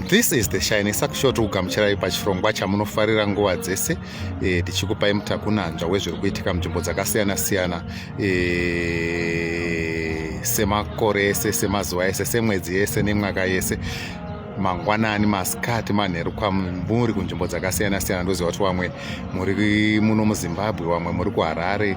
this is the shine sakushow tiri kugamuchirai pachirongwa chamunofarira nguva dzese e, tichikupai mutakunanzva wezviri kuitika munzvimbo dzakasiyana siyana e, semakore ese semazuva ese semwedzi yese nemwaka yese mangwanani masikati manheru kwamuri kunzvimbo dzakasiyana siyana ndoziva kuti vamwe muri muno muzimbabwe vamwe muri kuharare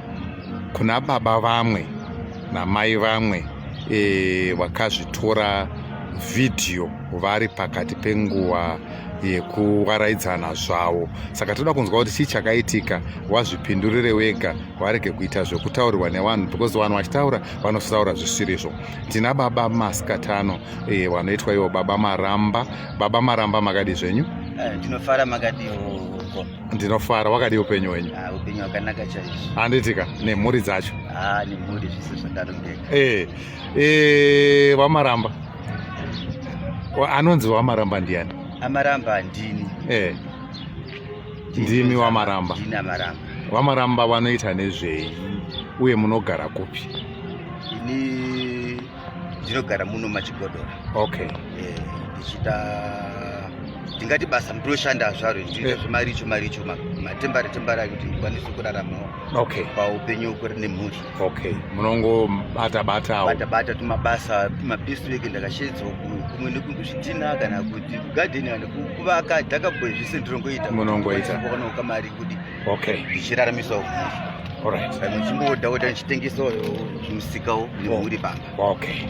kuna baba vamwe namai vamwe e, vakazvitora vhidhiyo vari pakati penguva yekuvaraidzana zvavo saka toda kunzwa kuti chii chakaitika wazvipindurire wega varege kuita zvekutaurirwa nevanhu because vanhu vachitaura vanotaura zvisirizvo tina baba masikatano e, vanoitwa ivo baba maramba baba maramba makadi zvenyu eh, ndinofara makadiwo ndinofara wakadii upenyu wenyu ah, upenyu hwakanaka chaizvo handitika nemhuri dzacho ah, nemhuri zvese zvadarongeka eh, eh, wamaramba anonzi wamaramba ndiani amaramba ndini eh, ndimi wamaramba wamaramba vanoita nezvei uye munogara kupi ini ndinogara muno machigodora okay eh, ndichiita ndingati basa ndinoshanda zvaro ndichiita eh. zvemaricho maricho matembare tembare akuti ndikwanise kurarama okay paupenyu kuri nemhuri okay munongobata batawo bata bata tumabasa tumabisireke ndakashedzwa kumwe nekuzvitina kana kuti kugadheni kana kuvaka dhakabwe zvese ndinongoita munongoita kuona ukamari kuti okay ndichiraramisa uku alright saka muchimboda kuti ndichitengesawo zvimusikawo nemhuri pamba okay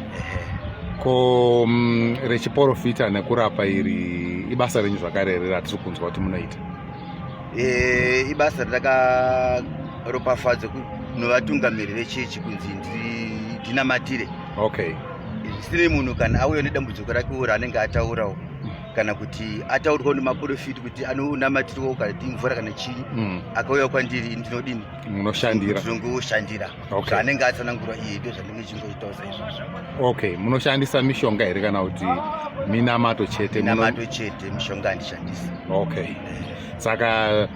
ko mm, rechiporofita nekurapa iri ibasa renyu zvakare riri ratiri kunzwa kuti munoita eh, ibasa ratakaropafadza novatungamiri vechechi kunzi ndinamatire okay sine munhu kana auya nedambudziko rake uri anenge ataurawo kana kuti ataurwa nemaporofiti kuti anonamatirwa ukati mvura kana chii mm. akauya kwandiri ndinodini munoshandira ndinongoshandira okay. anenge atsanangurwa iye ndo zvandinge chingoitawo saizvozvo okay munoshandisa mishonga here kana kuti minamato chete minamato chete mishonga handishandisi okay eh. saka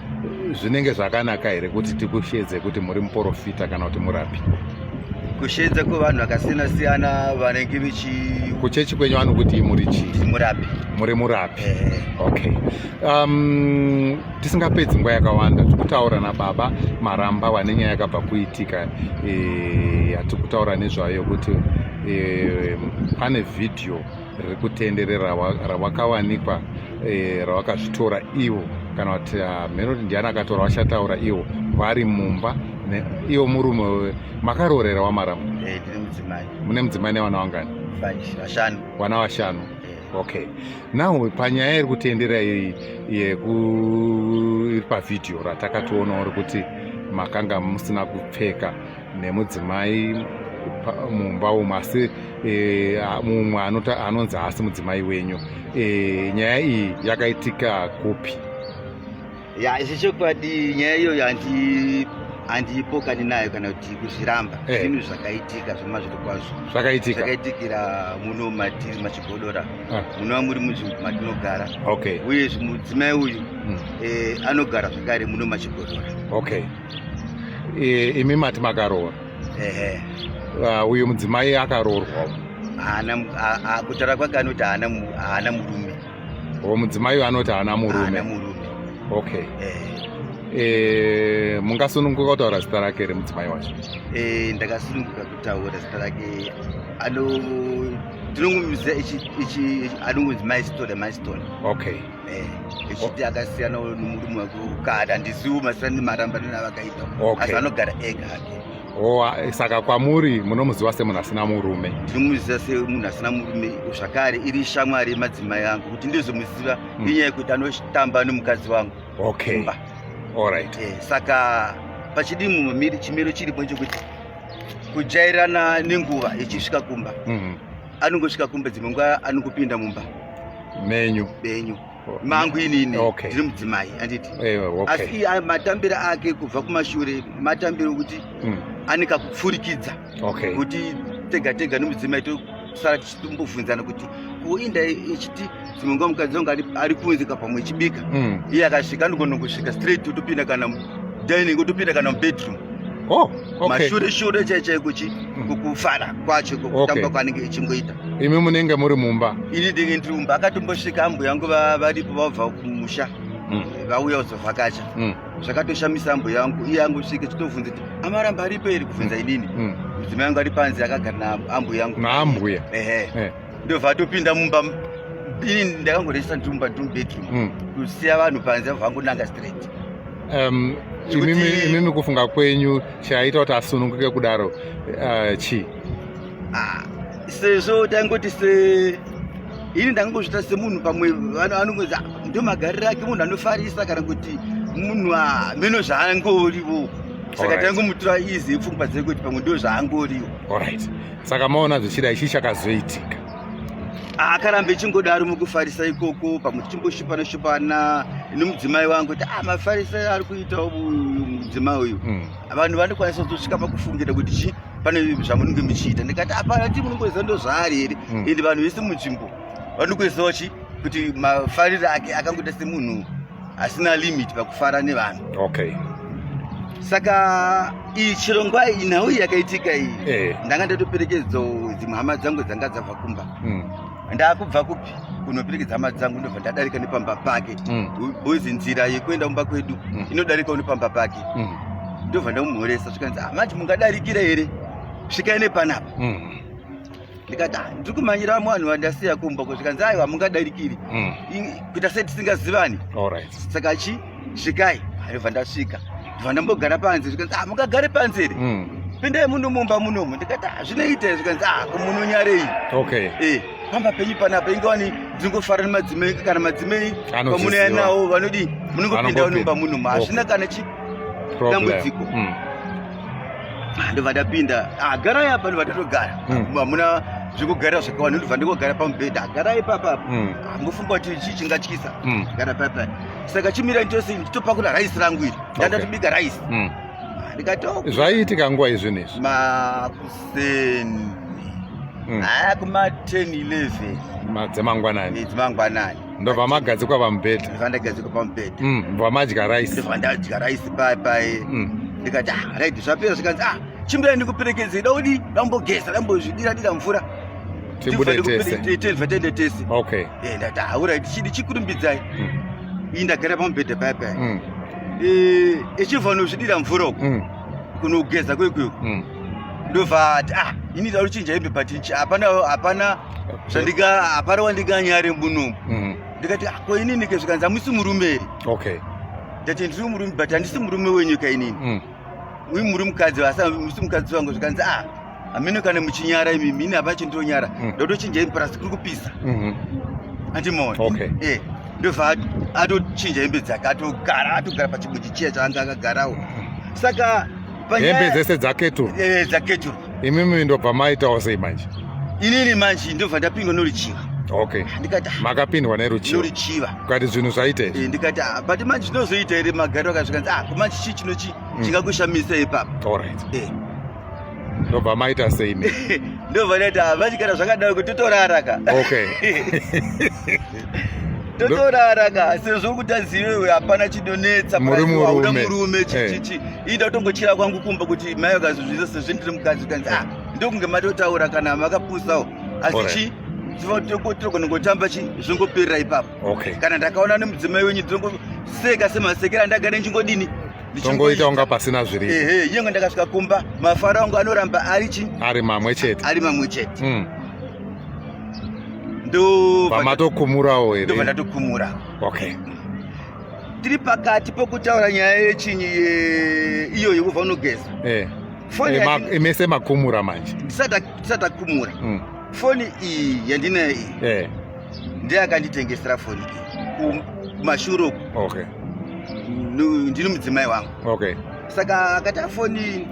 zvinenge zvakanaka here kuti tikushedze kuti muri muporofita kana kuti murapi kushedza kwevanhu vakasiyana siyana vanenge vechi kuchechi kwenyu vanokuti muri chii murapi muri murapi eh. okay um, tisingapedzi nguva yakawanda tikutaura nababa maramba vane nyaya yakabva kuitika e, yatikutaura nezvayo kuti e, pane vhidhiyo riri kutenderera rawakawanikwa eh, rawakazvitora ivo kana kuti ah, mheno kuti ndiani akatora vachataura ivo vari mumba iwo murume wewe makaroorera wamaramu eh, mune mudzimai nevana vangani vana vashanu eh. okay now panyaya iri kutendera iyi yekuiri pavhidhiyo ratakatoonawo rekuti makanga musina kupfeka nemudzimai mumba umu asi e, mumwe anonzi haasi mudzimai wenyu e, nyaya iyi yakaitika kupi ya izvi chokwadi nyaya iyoyo handi handiipokani nayo kana kuti kuzviramba eh. zvinhu zvakaitika zvema zviri kwazvo zvakaitika zvakaitikira muno matiri machigodora ah. munova muri munzvimbo matinogara okay uyezve mudzimai uyu hmm. eh, anogara zvakare muno machigodora okay Eh, imi mati makaroora ehe Ah, uyu mudzimai akaroorwa haana mu- ha- ha- kutaura kwake anoti haana mu- haana murume o mudzimai uyu anoti haana haana murume murume okay ehe Eh, mungasununguka kutaura zita rake here mudzimai wacho Eh, ndakasununguka kutaura zita rake ano tinongomuziva ichi ichi anongonzi maistone maistone okay Eh, echiti akasiyana nemurume wake wekukada handisiwo masiyana nemarambaniro avakaita Okay. asi anogara ega hake Oh, ah, saka kwamuri munomuziva semunhu asina murume ndinomuziva semunhu asina murume zvakare iri shamwari yemadzimai angu kuti ndizomuziva Mm. inyaya yekuti anotamba nemukadzi wangu okay kumba alright Eh, saka pachidi mumwe miri chimiro chiripo chekuti kujairana nenguva ichisvika kumba Mhm. anongosvika kumba dzimwe nguva anongopinda mumba menyu benyu oh. mangu inini ndiri mudzimai anditi eh, asi matambiro ake kubva kumashure matambiro okuti hmm. ane kakupfurikidza kuti tega tega nemudzimai tosara tichitombobvunzana kuti kuinda ichiti dzimwe nguva mukadzi wangu ari kunzika pamwe chibika mm. iye akasvika anogona kusvika straight otopinda kana dining otopinda kana mubedroom Oh, okay. mashure shure chai chai kuchi mm. kufara kwacho kutamba kwaanenge echingoita imi munenge muri mumba ini ndenge ndiri mumba akatombosvika ambuya yangu varipo vabva kumusha mm. vauya kuzovhakacha mm. zvakatoshamisa ambuya yangu iye angosvika chitovhunza kuti amaramba aripo iri kubvunza inini mudzimai yangu ari panze akagara naambuya yangu naambuya ehe eh. ndobva atopinda mumba ini ndakangoresa ndiri mumba ndiri mubedroom mm. kusiya vanhu panze vangonanga straight um, imimi kufunga kwenyu chaita kuti asununguke kudaro uh, chii ah, sezvo taingoti se ini ndangozvita semunhu pamwe anongozi ah, ndo magariro ake munhu anofarisa kana kuti munhu ah, meno zvaangorivo saka tangomutura izi pfungwa dzekuti pamwe ndo zvaangorivo saka maona zvichida ichi chakazoitika akarambe chingodaro mukufarisa ikoko pamwe tichimboshupana shupana nemudzimai wangu kuti ah, mafarisa ari kuita uyu mudzimai uyu hmm. vanhu vanokwanisa kuzosvika pakufungira kuti chi pane zvamunenge muchiita ndikati hapana ti munongoziva ndo zvaari here hmm. ende vanhu vese munzvimbo vanongoziva chi kuti mafariro ake akangoita semunhu hasina limit pakufara nevanhu okay saka iyi chirongwa iyi nhau iyi yakaitika iyi eh. ndanga ndatoperekedzo dzimwe hama dzangu dzanga dzabva kumba mm. ndakubva kupi kunoperekedza hama dzangu ndobva ndadarika nepamba pake mm. bozi nzira yekuenda kumba kwedu mm. inodarikawo nepamba pake mm. ndobva ndakumhoresa zvikanzi ah, manje mungadarikira here svikai nepanapa mm. ndikati ah, ndiri kumhanyira vanhu vandasiya kumba ko zvikanzi aiwa hamungadarikiri mm. kuita sei tisingazivani saka chi svikai aibva ndasvika ndibva ndambogara panze zvikanzi ah, mungagare panze here mm. pindai muno mumba munomu ndikati ah, zvinoita zvikanzi ah, munonyarei eh, pamba penyu panapa inge wani ndingofara nemadzimai kana madzimai pamunouya nawo vanodii munongopinda munomba munomu hazvina kana chi dambudziko mm. ndobva ndapinda ah, garai apa ndobva ndatogara hmm. hamuna zvekugarira zvakawanda ndobva ndingogara pamubhedha garai papa apa hmm. hambofunga ah, kuti chii chingatyisa hmm. gara papa saka chimira nditose nditopakura raisi rangu iri ndandatobika raisi ah, ndikatoo zvaiitika nguva izvi nezvi makuseni haa kuma 10 11 dzemangwanani dzemangwanani ndobva magadzikwa pamubhedha ndobva ndagadzikwa pamubhedha mm, ndobva madya rice ndobva ndadya rice paye paye mm. ndikati ah right zvapera zvikanzi ah chimbira ndikuperekedze da udi dambogeza dambozvidira dira mvura tibude tese tese tende tese okay eh ndati ah right chidi chikurumbidzai mm. iyi ndagara pamubhedha paye paye mm. eh echibva nozvidira mvura uko mm. kunogeza kwekweku mm. ndovati ah ini ndauri chinja hembe but hapana hapana zvandika hapana wandikanyare muno mm. ndikati ah, ko inini ke zvikanzi hamusi murume here okay ndati ndiri murume but handisi murume wenyu ka inini mm. uyu muri mukadzi vasamusi mukadzi wangu zvikanzi ah hameno kana muchinyara imi mini hapa chindonyara mm. ndotochinja imi plus kuri kupisa mm-hmm. andimoona okay. eh ndobva atochinja hembe dzake atogara atogara pachibuji chiya chaanga akagarawo mm. saka hembe dzese dzaketuru eh, dzaketuru imimi ndobva maitawo sei manje inini manje ndobva ndapindwa noruchiva okay ndikati ah, makapindwa neruchiva noruchiva ukati zvinhu zvaita izvi eh, ndikati ah, but manje zvinozoita here magari akazvikanzi ah kumanje chii chino chii mm. chingakushamisa ipapa allright eh. ndobva maita sei mi ndobva ndaita ah, manje kana zvakadaro kuti totorara ka okay totorara ka sezvo kuti azivewe hapana chinonetsa muri murume chichichi eh. ida kutongochira kwangu kumba kuti mai vakazvizviza sezvo ndiri mukadzi kanzi ah ndokunge matotaura kana makapusawo asi chi tinogona kutamba chi zvongoperera ipapo kana ndakaona nemudzimai wenyu tinongoseka semasekera ndagare ndichingodini tongoita unga pasina zviri ehe nyangwe ndakasvika kumba mafaro angu anoramba ari chi ari mamwe chete ari mamwe chete mm. ndopamatokumurawo here ndobva ndatokumura okay tiri pakati pokutaura nyaya yechinyi ye... iyoyo kubva unogeza eh. foni eh, ma, mese makumura manje tisatakumura mm. foni iyi yandinayo iyi eh. ndiye akanditengesera foni iyi kumashuro okay. ndini mudzimai wangu okay saka akati afoni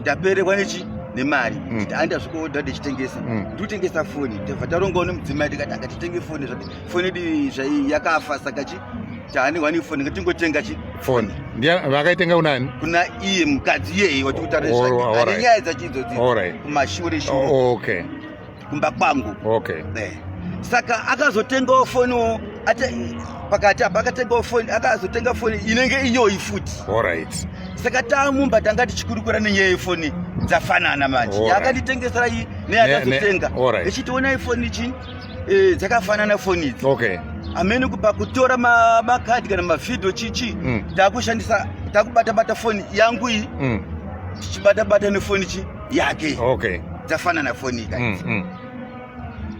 ndaperekwa nechi nemari mm. aenda zvikoda ndichitengesa mm. ndikutengesa foni tava tarongawo nemudzimai tikati akatitenge foni zvake foni idi zvai yakafa saka chi taanehwani ifoni ngatingotenga chi foni vakaitenga kunani kuna iye mukadzi iyeyi watikutarisanyaya dzachiidzodzikumashuri shuoke kumba kwangu okay. Eh. saka akazotengawo foniwo pakati apa akatengawo foni akazotenga foni inenge iyoyi futi right. saka tamumba tanga tichikurukura nenyaya yefoni dzafanana manje right. yaakanditengesera iyi neyakazotenga right. ichitiona ifoni chi eh, dzakafanana foni idzi okay. amene kupa kutora makadhi kana mavhidhio chichi mm. takushandisa takubata bata foni yangu iyi mm. tichibata bata nefoni chii yake okay. dzafanana foni guys mm, mm.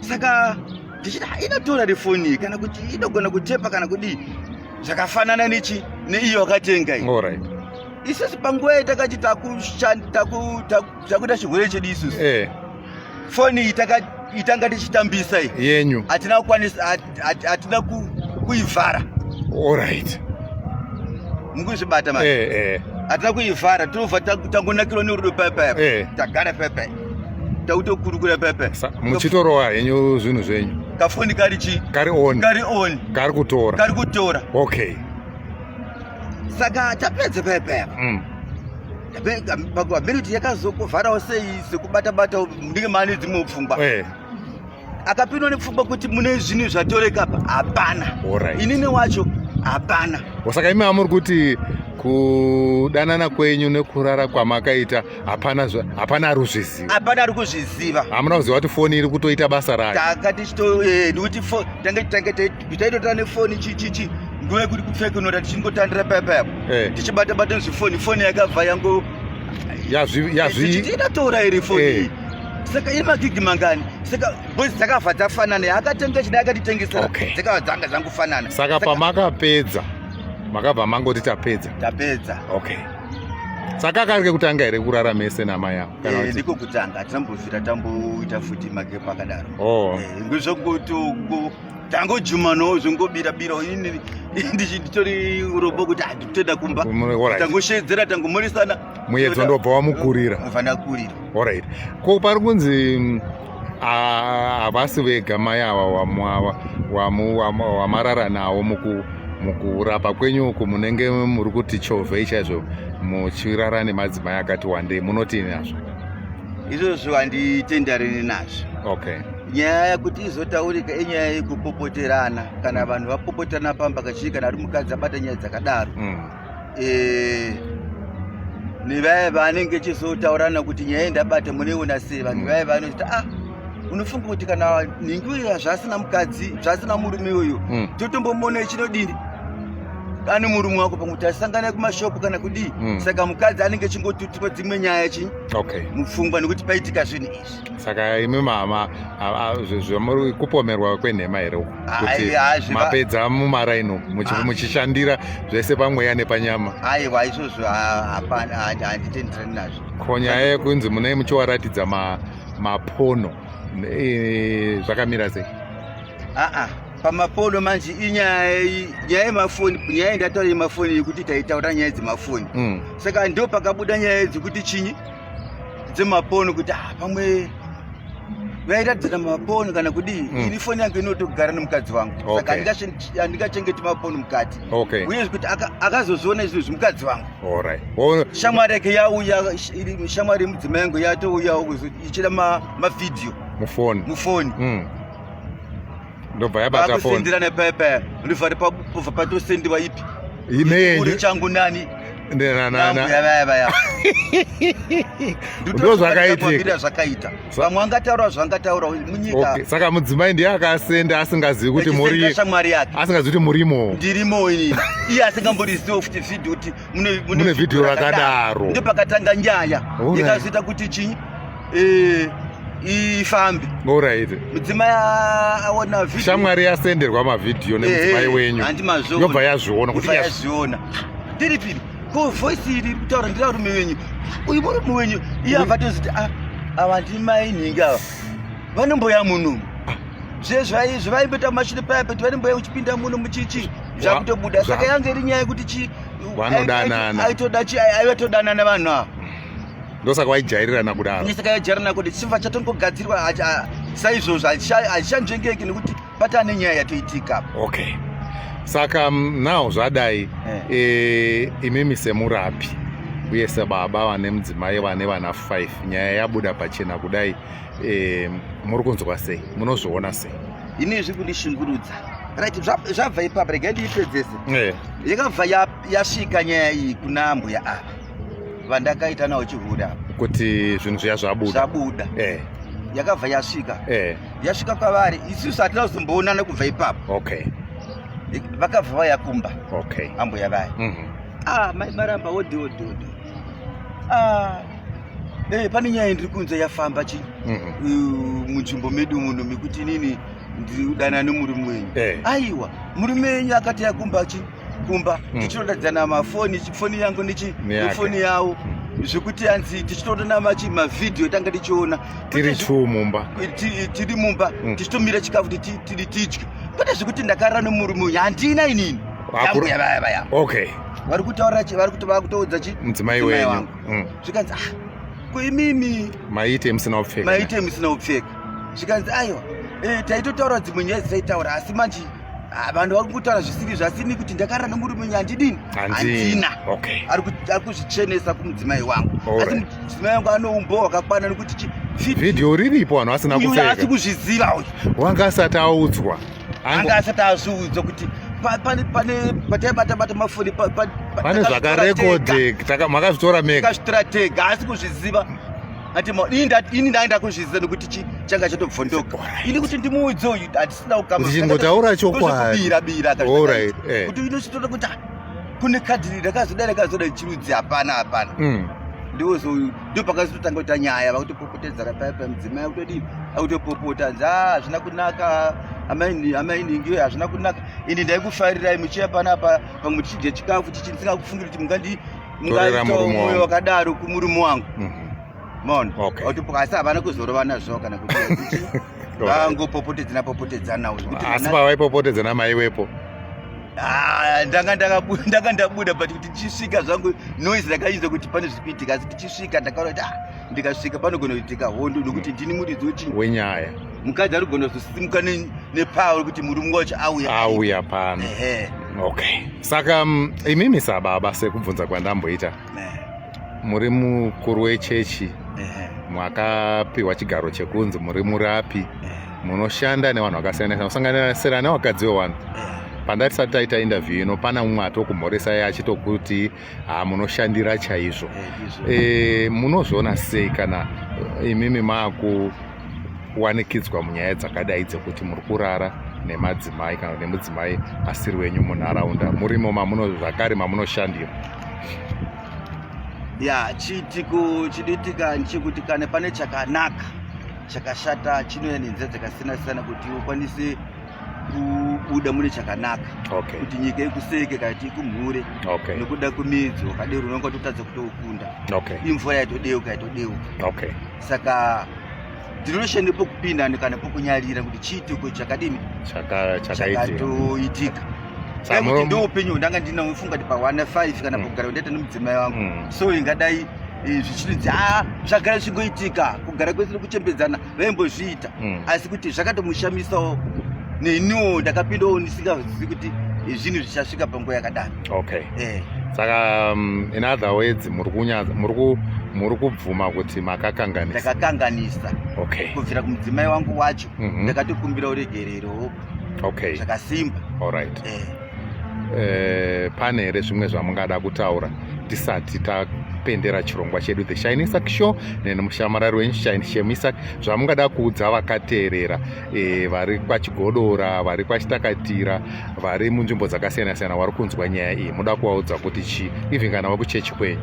saka tichiti ah, inotora refoni kana kuti inogona kutepa kana kudii zvakafanana nechi neiyo wakatenga iyi right. isusu panguva iyi takati takuita chirwere chedu isusu eh. foni iyi itanga tichitambisa iyi yenyu hatina kukwanisa hatina kuivhara allright mukuzvibata ma eh, eh. hatina kuivhara tinobva tangonakirwa nerudo paipaapa eh. tagara paipai tautokurukura pepe muchitorova henyu zvinhu zvenyu kafoni kari chi kari on kari on kari kutora kari kutora okay saka tapedza pepe mm. ability yakazokuvharawo sei sekubata bata ndinge mane dzimwe pfungwa eh. akapindwa nepfungwa kuti mune zvinhu zvatoreka apa hapana right. inini wacho hapana saka imi amuri kuti kudanana kwenyu nekurara kwamakaita hapana hapana ari kuzviziva hapana ari kuzviziva hamuna kuziva kuti foni iri kutoita basa rayo tanga tichitokuti eh, tanga tanga taitotara nefoni chichichi nguva yekuti kupfekenora tichingotandira payapayapo eh. tichibata bata nezvifoni foni yakabva yango yazviitatora iri foni eh. saka iri magigi mangani saka boys dzakabva dzafanana yaakatenga chidai akatitengesera okay. dzakabva dzanga dzangofanana saka, saka pamakapedza makabva mangoti tapedza tapedza okay saka kari kekutanga here kurara mese namai avo eh, ndiko kutanga hatizambovira tamboita futi magepo akadaro oh. eh, ngezvokuti tangojumanawo zvongobirabira ini ndichitori urobo kuti handitoda kumba tangosheedzera tangomhoresana muyedzo ndobva wamukurira unofanira kurira alright ko pari kunzi mm, ah, havasi vega mai ava wamu- ava- wamu- wamu- wamarara nawo muku- mukurapa kwenyu uku munenge muri kuti chovhei chaizvo muchirara nemadzimai akati wandei munoti nazvo izvozvo handitendareni nazvo okay nyaya yakuti izotaurika inyaya yekupopoterana kana vanhu vapopoterana pamba kachii kana ari mukadzi abata nyaya dzakadaro mm. eh, nevaya vaanenge echizotaurirana kuti nyaya iyi ndabata munoiona sei vanhu vaya vanozoti ah unofunga kuti kana nhingi uya zvasina mukadzi zvasina murume uyu hmm. totombomuona ichinodini ane murume wako pamwe kuti asangana kumashopu kana kudii hmm. saka mukadzi anenge echingotutwa dzimwe nyaya chi mupfungwa nekuti paitika zvinhu izvi saka imi mama zvamuri kupomerwa kwenhema here kuti mapedza mumaraini ah. muchishandira zvese pamweya nepanyama aiwa izvozvo hapana handitendirani nazvo ko nyaya yekunzi munei muchiwaratidza mapono zvakamira sei aa ah, ah. pamapono manje inyaya nyaya yemafoni nyaya yendataura yemafoni yekuti taitaura nyaya dzemafoni hmm. saka ndo pakabuda nyaya dzekuti chinyi dzemaponi kuti ah, pamwe vairadzana maponi kana kudii mm. ini foni yangu inotogara nemukadzi wangu okay. saka handingachengeti maponi mukati okay. uye kuti akazozviona izvi zvimukadzi vangu right. well, shamwari yake yauya shamwari yemudzima yangu yatouyawo ichida mavhidhiyo ma mufoni mufoni mm. ndobva yabata phone sendira ne pepe ndifari pa kufa pato sendi vaipi ine uri changu nani ndena nana ya baya baya ndo zvakaita ndira zvakaita vamwe anga taura zvanga taura munyika okay saka mudzimai ndiye akasenda asingazivi kuti muri asingazvi kuti murimo ndirimo ini iye asingambori zivo kuti video kuti mune mune video rakadaro ndopakatanga nyaya ikazoita kuti chinyi eh ifambi alright mudzimai aona video shamwari yasenderwa mavhidhiyo nemudzimai eh, wenyu yobva yazviona kuti yazviona tiri piri ko voice iri kutaura ndira rume wenyu uyu murume wenyu iye avatoziti ah, avandimainhinga ava vanomboya munhu zvezvaizvi vaimbeta mashiri paya peti varimboya uchipinda muno muchichi zvakutobuda saka yange iri nyaya yekuti chi vanodanana aitoda chi aive todanana vanhu ava ndosaka vaijairirana kudaro ndosaka vaijairirana kuti chimva chatongogadzirwa saizvozvo hazvichanzvengeki nekuti pata ane nyaya yatoitika okay saka mm, now zvadai eh. eh, imimi semurapi uye sebaba vane mudzimai vane vana 5 nyaya yabuda pachena kudai eh, muri kunzwa sei munozviona sei ini izvi kundishungurudza right zvabva ipapa rega ndiipedzese eh. yakabva yasvika nyaya iyi kuna mbuya ava vandakaita nawo chihure apa kuti zvinhu zviya zvabuda zvabuda eh. yakabva yasvika eh. yasvika kwavari isusu hatina kuzomboonana kubva ipapo okay vakabva vaya kumba okay ambuya vaya mm -hmm. ah mai maramba wodi wodi wodi Ah. Hey, eh, pane nyaya ndiri kunze yafamba chi mm -hmm. munzvimbo medu muno mekuti inini ndidana nemurume wenyu hey. Eh. aiwa murume wenyu akati yakumba chi kumba mm. tichitodadzana mafoni foni yangu nechi nefoni yawo mm. zvekuti anzi tichitoona machi mavhidhiyo tanga tichiona tiri two mumba tiri mumba mm. tichitomira chikafu kuti tidye kwete zvekuti ndakarara nemurume uyu handina inini okay vari kutaura chi vari kuti vakutoudza chi mudzimai wenyu mm. zvikanzi ah ko imimi maite musina upfeka maite musina upfeka zvikanzi aiwa eh taitotaura dzimwe nyaya dzataitaura asi manje ah, vanhu vari kutaura zvisiri zvasini kuti ndakarara nemurume nyu handidini handina ari kuzvichenesa kumudzimai wangu asi mudzimai wangu anoumbo wakakwana nekuti vhidhiyo riripo vanhu vasina kupfeka asi kuzviziva uyu wanga asati audzwa anga asati azviudzwa kuti pataibata-bata mafoni pane zvakarekodheka makazvitora mega takazvitora tega haasi kuzviziva ati ini ndaenda kuzviziva nekuti changa chatobvondoka ini kuti ndimuudze uyu hatisina kukamachingotaura chokwaibira eh. kuti inochitoda kuti ah, kune kadhi rakazoda rakazoda chirudzi hapana hapana hmm. ndiwo ndo pakazotanga kuita nyaya vakutopopotedzana paya paya mudzimai akutodii akutopopota anzi a hazvina kunaka amainingi hazvina kunaka ini ndaikufarirai muchiya panapa pamwe tichidya chikafu tichisinga kufungira kuti mungandi mungaitomoyo wakadaro kumurume wangu mhm. maona autopoka asi havana kuzorovana zvo kana kuti vangopopotedzana popotedzana uyo asi pavaipopotedzana maiwepo Ah, ndanga ndanga ndabuda but kuti tichisvika zvangu noise rakaita kuti pane zviri kuitika asi tichisvika ndakaona kuti ah, ndikasvika panogona kuitika hondo nokuti ndini muridzi wechii wenyaya mukadzi ari kugona kuzosimuka nepower kuti murume wacho auya auya pano okay saka mm, imimi sababa sekubvunza kwandamboita muri mukuru wechechi mwakapiwa chigaro chekunzi muri murapi munoshanda nevanhu vakasiyana siyana kusanganisira nevakadzi vewanhu pandati sati taita interview ino pana umwe atokumhoresai achitokuti ha munoshandira chaizvo e, munozviona sei kana imimi maakuwanikidzwa munyaya dzakadai dzekuti muri kurara nemadzimai kana nemudzimai asiri wenyu munharaunda murimo mamuno zvakare mamunoshandira ya chiitiko chinoitika nchekuti kana pane chakanaka chakashata chinouya nenzira dzakasiyana siyana kuti ukwanise kubuda mune chakanaka okay. kuti nyika ikuseke kana kuti ikumhure okay. nokuda kwemidzo wakadero unonga totadza kutokunda okay. imvura yaitodeuka yaitodeuka okay. saka Denotion nepokupinda kana pokunyarira kuti chiitiko chakadini chakatoitika kuti ndo upenyu hwandanga ndina ufunga kuti pawana 5 kana mm. pokugara kundaita nemudzimai wangu mm. so ingadai eh, zvichiti ah, zvagara zvichigoitika kugara kwese nekuchembedzana vaimbozviita mm. asi kuti zvakatomushamisawo neniwo ndakapindawo ndisingazivi kuti eh, zvinhu zvichasvika panguva yakadaro okay eh. saka um, in other words muri kubvuma kuti makakanganisa ndakakanganisa okay kubvira kumudzimai wangu wacho mm -hmm. ndakatikumbira uregerero okay zvakasimba alright eh. Eh, pane here zvimwe zvamungada kutaura tisati tapendera chirongwa chedu the shine isak show neni mushamarari wenyu shine shemisak zvamungada kuudza vakateerera e, vari kwachigodora vari kwachitakatira vari munzvimbo dzakasiyana siyana vari kunzwa nyaya iyi muda kuvaudza kuti chii even kana vakuchechi kwenyu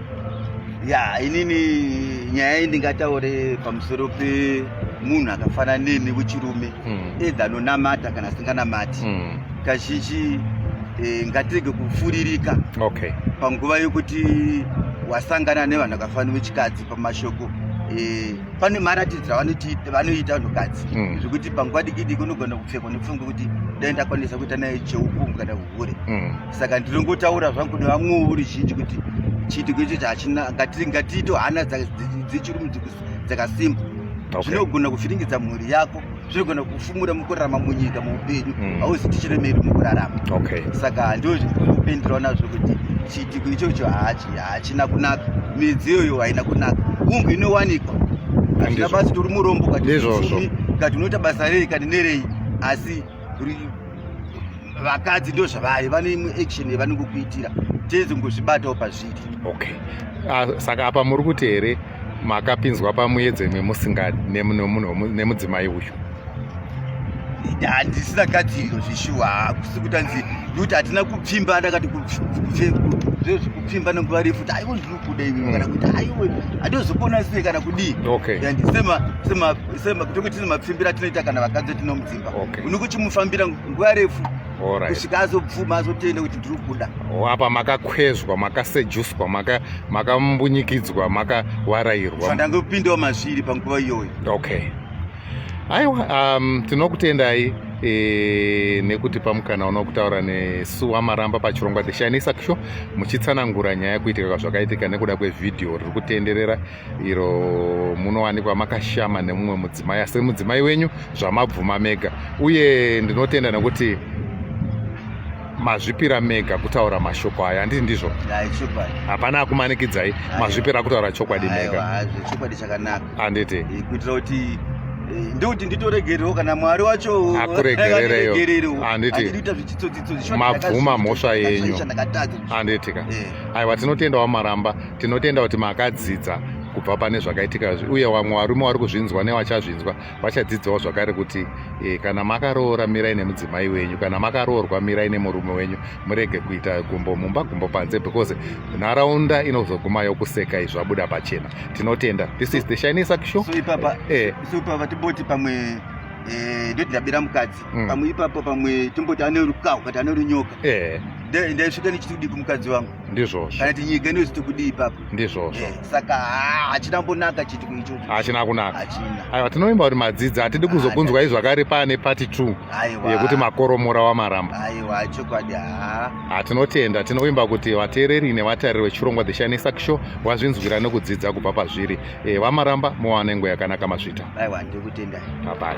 ya inini nyaya iyi ndingataure pamusoro pemunhu akafanana neni wechirume mm. edha anonamata kana asinganamati mm. kazhinji e, ngatirege kufuririka okay. panguva yokuti wasangana nevanhu vakafanira vechikadzi pamashoko e, pane maratidziro vanoita vanhukadzi mm. zvekuti panguva dikidiki unogona kupfekwa nepfungwa kuti dai ndakwanisa kuita naye cheupungu kana uhure mm. saka ndinongotaura zvangu nevamwewo uri zhinji kuti chiitiko ichocho hachina ngatiito hana dzechirumudzi dzakasimba zvinogona kuvhiringidza mhuri yako zvinogona kufumura mukurarama munyika muupenyu mm. hauzi tichiremeri mukurarama saka ndio kupindirawo nazvo kuti chiitiko ichocho hachina kunaka midziyo iyo haina kunaka hungu inowanikwa hazvina basi tori murombo kati unoita basa rei kati nerei asi vakadzi ndo zvavai vane imwe action yavanongokuitira teze ngozvibatawo pazviri okay ah, saka apa muri kuti here makapinzwa pamuedzo imwe musingadi nemudzimai uyu handisina gadziriro zveshuwa hakusi kuti anzi nekuti hatina kupfimba ndakati kupfimba nenguva refu kuti aiwe ndiri kuda iwe kana kuti aiwe handozokona sei kana kudii okay. yeah, sema, sema, sema, tokoti nemapfimbira tinoita kana vakadzi tinomudzii okay. unokuchimufambira nguva refu kusvika azobvuma azotenda kuti ndiri kuda oh, apa makakwezwa makasejuswa makambunyikidzwa maka makawarairwa sandanga kupindawo mazviri panguva iyoyo okay aiwa um, tinokutendai e, nekuti pamukana uno kutaura nesu wamaramba pachirongwa the shining saxo muchitsanangura nyaya kuitika kwazvakaitika nekuda kwevhidhiyo riri kutenderera iro munowanikwa makashama nemumwe mudzimai asi mudzimai wenyu zvamabvuma mega uye ndinotenda nekuti mazvipira mega kutaura mashoko aya handiti ndizvo hapana akumanikidzai mazvipira kutaura chokwadi mega handiti kuitira kuti eh, ndikuti nditoregerewo kana mwari wacho akuregerereyo handiti mabvuma mhosva yenyu handitika eh. aiwa tinotenda wamaramba tinotenda kuti makadzidza kubva pane zvakaitika izvi uye vamwe varume vari kuzvinzwa nevachazvinzwa vachadzidzawo zvakare kuti e, kana makaroora mirai nemudzimai wenyu kana makaroorwa mirai nemurume wenyu murege kuita gumbo mumba gumbo panze because nharaunda inozoguma yokuseka izvi zvabuda pachena tinotenda this is the shining saksho so ipapa eh. so ipapa tiboti pamwe eh, ndoti ndabira mukadzi Mm. pamwe ipapo pamwe tomboti ane rukaho kana kuti ane runyoka Eh, Nda- ndaisvika ndichiti kudii kumukadzi wangu ndizvozvo kana kuti nyika inoziti kudii ipapo ndizvozvo Eh, saka haa, hachina mbonaka chitiko ichocho hachina kunaka hachina aiwa tinovimba kuti madzidzi hatidi kuzokunzwai zvakare pane pati 2 aiwa yekuti makoromora wamaramba aiwa chokwadi haa hatinotenda tinovimba kuti vateereri nevatariri vechirongwa the shining sack show vazvinzwira nekudzidza kubva pazviri Eh, vamaramba muwane nguva yakanaka mazvita aiwa ndikutendai bye bye